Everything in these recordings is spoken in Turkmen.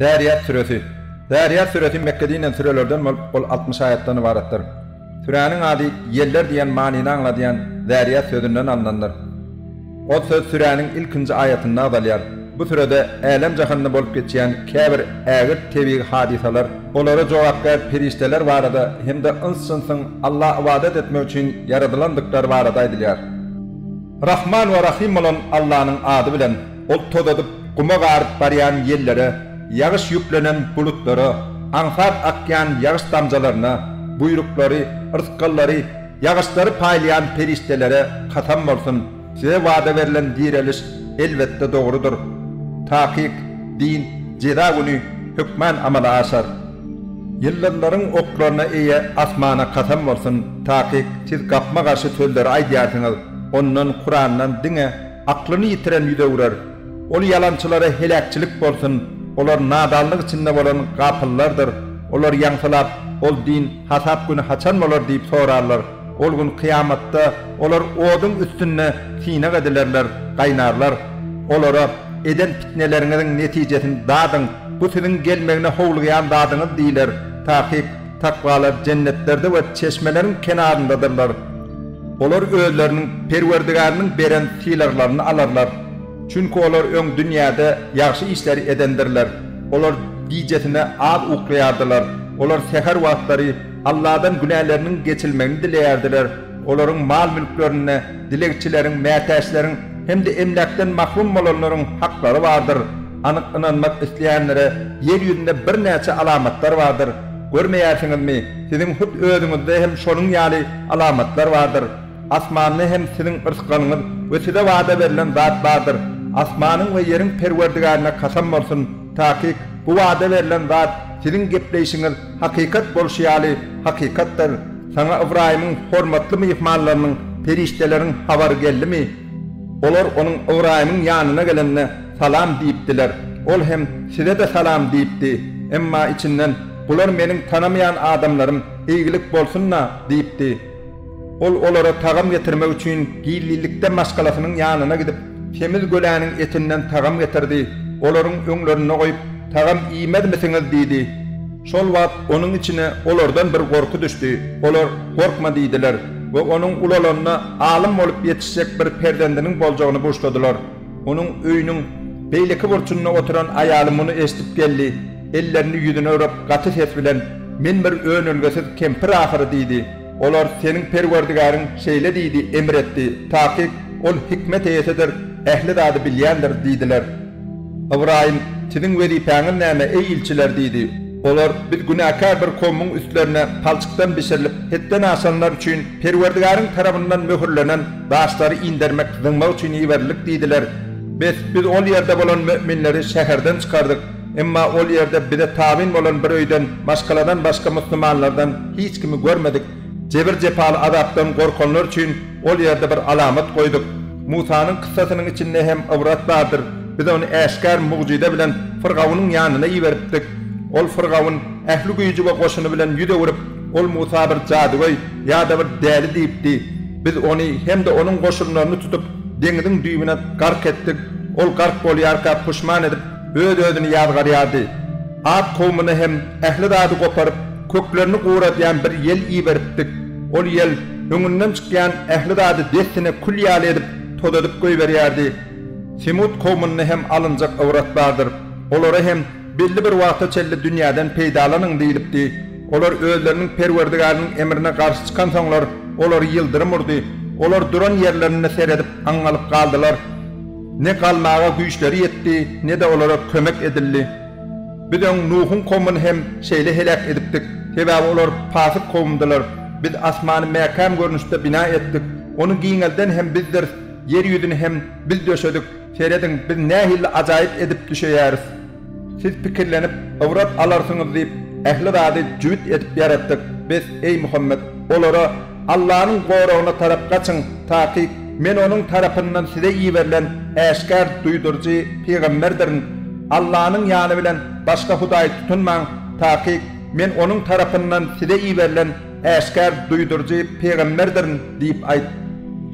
Zäriýat süresi. Zäriýat süresi Mekge dinilen sürelerden bolup, ol altmyş aýatdan ybaratdyr. Süräniň ady ýeller diýen manyny aňladýan Zäriýat sözünden alnandyr. Ol söz süräniň ilkinji aýatynda agzalýar. Bu sürede älem jahanda bolup geçýän käbir ägirt tebigy hadysalar, olara jogapkär perişdeler barada hem-de yns-jynsyň Alla ybadat etmek üçin ýaradylandyklary barada aýdylýar. Rahman we Rahym bolan Allanyň ady bilen, Ol tozadyp, guma garyp barýan ýellere, ýagyş ýüplenen bulutlara, aňsat akýan ýagyş damjalaryna, buýruklary, rysgallary, ýagyşlary paýlaýan perişdelere kasam bolsun, size wada berlen direliş, elbetde, dogrudyr. Takyk, din, jeza güni hökmän amala aşar. Ýyldyzlaryň oklaryna eýe asmana kasam bolsun, takyk siz gapma garşy sözleri aýdýarsyňyz, ondan kurandan diňe aklyny ýitiren ýüz öwrer. Ol ýalançylara heläkçilik bolsun, olar nadanlyk içinde bolan gapyllardyr, olar ýaňsylap, ol din, hasap güni haçan bolar diýip sorarlar. Ol gün kyýamatda olar oduň üstünde synag edilerler, gaýnarlar. Olara, Eden pitneleriňiziň netijesini dadyň, bu siziň gelmegine howlugýan zadyňyz diýler. Takyk, takwalar jennetlerde we çeşmeleriň kenaryndadyrlar. Olar özleriniň Perwerdigäriniň beren sylaglaryny alarlar. Çünki olar öň dünýäde ýagşy işleri edendirler. Olar gijesine az uklaýardylar. Olar säher wagtlary Alladan günäleriniň geçilmegini dileýärdiler, olaryň mal-mülklerinde dilegçileriň, mätäçleriň hem-de emläkden mahrum bolanlaryň haklary bardyr. Anyk ynanmak isleýänlere ýer ýüzünde birnäçe alamatlar bardyr. Görmeýärsiňizmi, siziň hut özüňizde hem şonuň ýaly alamatlar bardyr. Asmanda hem siziň yrsgalyňyz we size wada berlen zat bardyr. Asmanyň we ýeriň Perwerdigärine kasam bolsun, takyk, bu wada berlen zat siziň gepleýşiňiz, Hakykat bolşy ýaly, hakykatdyr. Saňa Ybraýymyň hormatly myhmanlarynyň, perişdeleriň habary geldimi? Olar onuň Ybraýymyň ýanyna gelende, Salam diýipdiler. Ol hem, Size-de salam diýipdi. Emma içinden, Bular meniň tanamaýan adamlarym, eýgilik bolsun-da! diýipdi. Ol olara tagam getirmek üçin gizlinlikde maşgalasynyň ýanyna gidip, semiz göläniň etinden tagam getirdi, olaryň öňlerinde goýup, Tagam iýmezmisiňiz? diýdi. Şol wagt onuň içine olardan bir gorky düşdi. Olar, Gorkma diýdiler we onuň ulalanda alym bolup ýetişjek bir perzendiniň boljagyny buşladylar. Onuň öýüniň beýleki burçunda oturan aýaly muny eşidip geldi, ellerini ýüzüne urap, gaty ses bilen, Men bir önelgesiz kempir ahyry diýdi. Olar, Seniň Perwerdigäriň şeýle diýdi, emr etdi, takyk Ol hikmet eýesidir, ähli zady bilýändir diýdiler. Ybraýym, Siziň wezipäňiz näme, eý ilçiler? diýdi. Olar, Biz günäkär bir kowmuň üstlerine palçykdan bişirilip, hetden aşanlar üçin Perwerdigäriň tarapyndan möhürlenen, Daşlary indermek, zyňmak üçin iberildik diýdiler. Bes, biz ol ýerde bolan möminleri şäherden çykardyk. Emma ol ýerde bize tabyn bolan bir öýden maşgaladan başga musulmanlardan hiç kimi görmedik. Jebir-jepaly azapdan gorkanlar üçin ol ýerde bir alamat goýduk. Musanyň kyssasynyň içinde hem ybrat bardyr. Biz ony äşgär mugjyza bilen Fyrgawnyň ýanyna iberipdik. Ol Fyrgawn ähli güýji we goşuny bilen ýüz öwrüp, Ol Musa bir jadygöý ýa-da bir däli diýipdi. Biz ony hem-de onuň goşunlaryny tutup, deňiziň düýbüne gark etdik. Ol gark bolýarka puşman edip, öz-özüni ýazgarýardy. At kowumyna hem ähli zady goparyp, köklerini guradýan bir ýel iberipdik. Ol ýel öňünden çykýan ähli zady dessine kül ýaly edip, tozadyp goýberýärdi. Semut kowumynda hem alynjak ybrtlardyr. Olara hem Belli bir wagta çenli dünýäden peýdalanyň diýlipdi. Olar özleriniň Perwerdigariniň emrine garşy çykansoňlar, olary ýyldyrym urdy. Olar duran ýerlerinde seredip, aň galyp galdylar. Ne galmaga güýçleri ýetdi, ne-de olara kömek edildi. Biz öň Nuhuň kowumyny hem şeýle heläk edipdik, sebäbi olar pasyk kowumdylar. Biz asmany mäkäm görnüşde bina etdik. Ony giňelden hem Bizdiris, ýer ýüzüni hem Biz döşedik. Serediň, biz nähili ajaýyp edip düşeýäris. Siz pikirlenip, ybrat alarsyňyz diýip, ähli zady jübüt edip ýaratdyk. Bes, eý Muhammet! Olara, Allanyň goragyna tarap gaçyň, takyk, men Onuň tarapyndan size iberilen äşgär duýduryjy pygamberdirin. Allanyň ýany bilen başga hudaý tutunmaň, takyk, men Onuň tarapyndan size iberilen Äşgär duýduryjy pygamberdirin diýip aýt.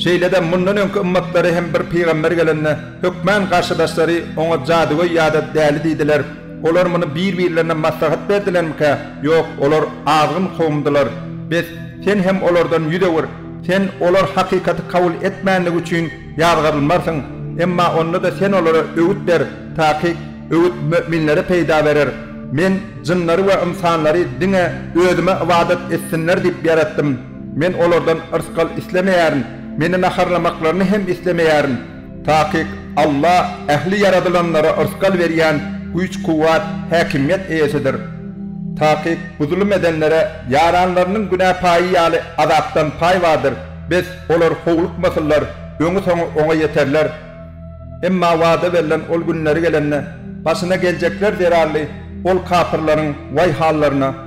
Şeýle-de mundan öňki ymmatlary hem bir pygamber gelende, hökmän garşydaşlary oňa jadygöý ýa-da däli diýdiler. Olar muny bir-birlerine maslahat berdilermikä? Ýok, olar azgyn kowumdylar. Bes, sen hem olardan ýüz öwür. Sen olar hakykaty kabul etmändigi üçin ýazgarylmarsyň. Emma onda-da sen olara öwüt ber, taýk. Öwüt möminlere peýda berer. Men jynlary we ynsanlary diňe Özüme ybadat etsinler diýip ýaratdym. Men olardan yrsgal islemeýärin, Meni naharlamaklaryny hem islemeýärin. Takyk, Alla ähli ýaradylanlara yrsgal berýän güýç-kuwwat, häkimiýet eýesidir. Takyk, bu zulum edenlere ýaranlarynyň günä paýy ýaly azapdan paý bardyr. Bes, olar howlukmasynlar, öňi-soňy oňa ýeterler. Emma wada berlen ol günleri gelende, başyna geljekler zerarly ol kapyrlaryň waý hallaryna!